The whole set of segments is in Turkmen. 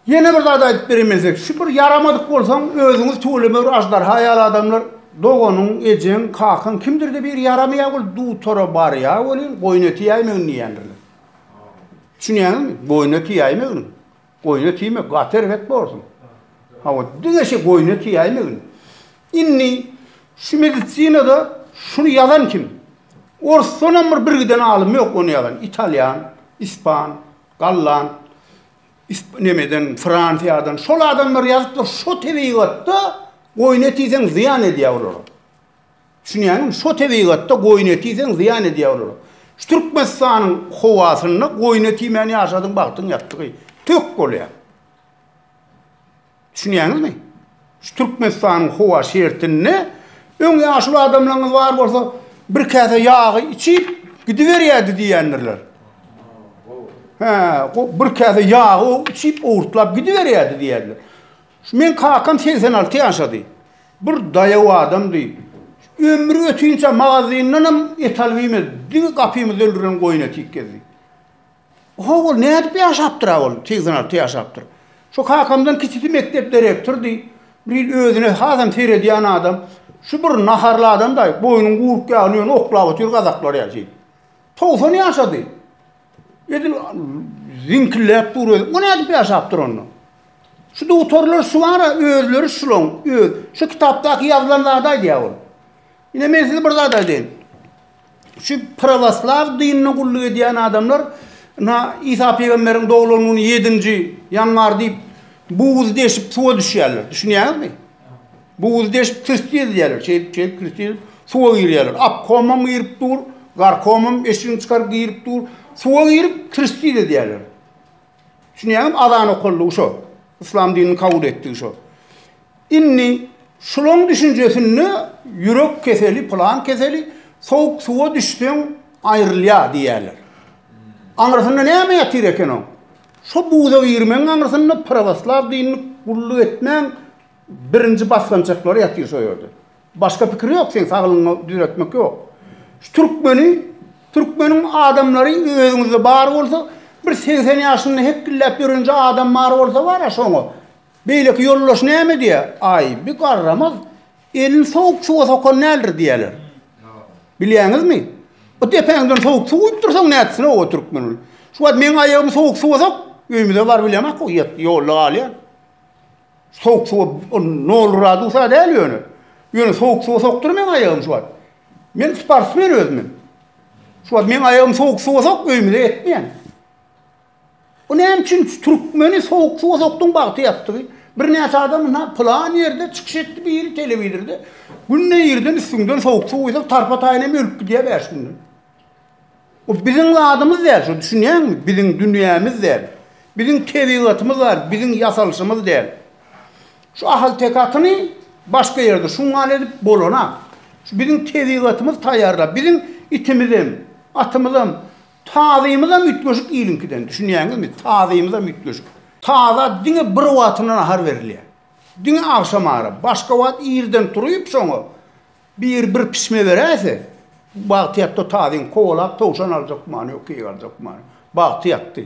Ýene bir zat aýdyp bereýin men size. Şu bir ýaramadyk bolsaň, özüňiz tüweleme bir aždarha ýaly adamlar, doganyň, ejeň, kakaň kimdir-de biri ýaramaýar ol dutara barýar welin, goýun eti ýäýmegin diýýändirler. Düşünýäňizmi? Goýun eti ýäýmegin. Goýun eti iýme, gaty erbet bolarsyň. Hawa, diňe şu goýun eti ýäýmegin. Indi şu medisinada şuny ýazan kim? Orsdan hem bir birgiden alym ýok ony ýazan. Italýan, ispan, Gallan, isp nemeden, Fransiýadan şol adamlar ýazypdyr, şo tebigatda goýun eti iýseň zyýan edýär olara. Düşünýäňmi? Şo tebigatda goýun eti iýseň zyýan edýär olara. Şu Türkmenistanyň howasynda goýun eti iýmän ýaşadyň bagtyň ýatdygy tök bolýar. Düşünýäňizmi? Şu Türkmenistanyň howa şertinde öň ýaşuly adamlaryňyz bar bolsa, bir käse ýagy içip gidiberýärdi diýýändirler. Hä, bir käse ýagy içip owurtlap gidiberýärdi diýýärler. Şu men kakam 86 ýaşady. Bir daýaw adamdy. Ömri ötünçe magazindanam et alyp iýmedi. Diňe gapymyzda öldürilen goýun eti iýip gezdi. How ol nädip ýaşapdyra ol, segsen alty ýaşapdyr. Şu kakamdan kiçisi mekdep direktordy. Bir ýyl özüne hasam seredýän adam. Şu bir naharly adam-da, boýnuň gurk ýagyny ýöne oklap otyr gazaklar ýaly şeýdip. Togsan ýaşady. Edil ziňkilläp dur özü. Bu nädip ýaşapdyr onda? Şu dugtarlar şu bar-a, özleri şulaň, öz. Şu kitapdaky ýazylan zady aýdýar ol. Ine men size bir zat aýdaýyn. Şu prawoslaw dinine gulluk edýän adamlar na Isa pygamberiň doglan güni 7-nji ýanwar diýip buz deşip suwa düşýärler. Düşünýäňizmi? Buz deşip tüsti edýärler. Şeýdip, şeýdip tüsti edip suwa girýärler. Apkomam girip dur, garkomam eşigini çykaryp girip dur. Suwa girip tüsti edýärler. Düşünýäňizmi? Azan okaldy şo. Islam dinini kabul etdi şo. Indi şulaň düşünjesinde ýürek keseli pylan keseli sowuk suwa düşseň aýrylýa diýýäler. Aňrysynda näme ýatyr eken oň? Şo buza girmegiň aňrysynda prawoslaw dinini gulluk etmäň birinji basgançaklary ýatyr şo ýerde. Başga pikir ýok seň saglygyňy düzetmek ýok. Şu türkmeni türkmeniň adamlary özüňizde bar bolsa bir segsen ýaşynda hekgilläp ýörenje adam bar bolsa bara şoňa Beýleki ýoldaş näme diýýär? Aý, bu garramaz elini sowuk suwa sokan däldir diýýärler. Bilýäňizmi? O depäňden sowuk suw guýup dursaň nätsin oba türkmen ol. Şu wagt meň aýagymy sowuk suwa sok, öýmüze bar bilemok o ýat ýolda galýan. Sowuk suwa ol nol gradusa däl ýöne. Ýöne sowuk suwa sokdur meň aýagymy şu wagt. Men sportsmen özüm. Şu wagt meň aýagymy sowuk suwa sok, öýmüze etmeýän. Bu näme üçin türkmeni sowuk suwa sokduň bagty ýatdygy. Birnäçe adam ynha plan ýerde çykyş etdi biri telewizorda. Günde irden üstüňden sowuk suw guýsak tarpa taýyn hem ölüp gidýär bäş günden. Bu biziň zadymyz däl şu düşünýäňmi? Biziň dünýämiz däl. Biziň tebigatymyz bar, biziň ýasalyşymyz däl. Şu ahaltekatyny başga ýerde şungal edip bolanak. Şu biziň tebigatymyz taýýarlap, biziň itimizem, atymyzam Tazymyzam üýtgeşik iliňkiden, düşünýäňizmi? Tazymyzam üýtgeşik. Taza diňe bir wagtyna nahar berilýär. Diňe agşamara. Başga wagt irden turyp, şoňa biri bir pişme beräýse, bagty ýatdy tazyň. Kowalap towşan aljak many ýok, keýik aljak many. Bagty ýatdy.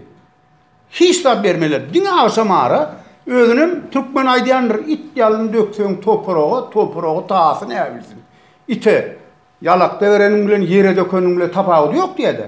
Hiç zat bermeler. Diňe agşam ara özünem türkmen aýdýandyr, it ýalyn dökseň toparaga, toparagy tasy näbilsin. Ite ýalakda bereniň bilen ýere dökeniň bilen tapawudy ýok diýýädä.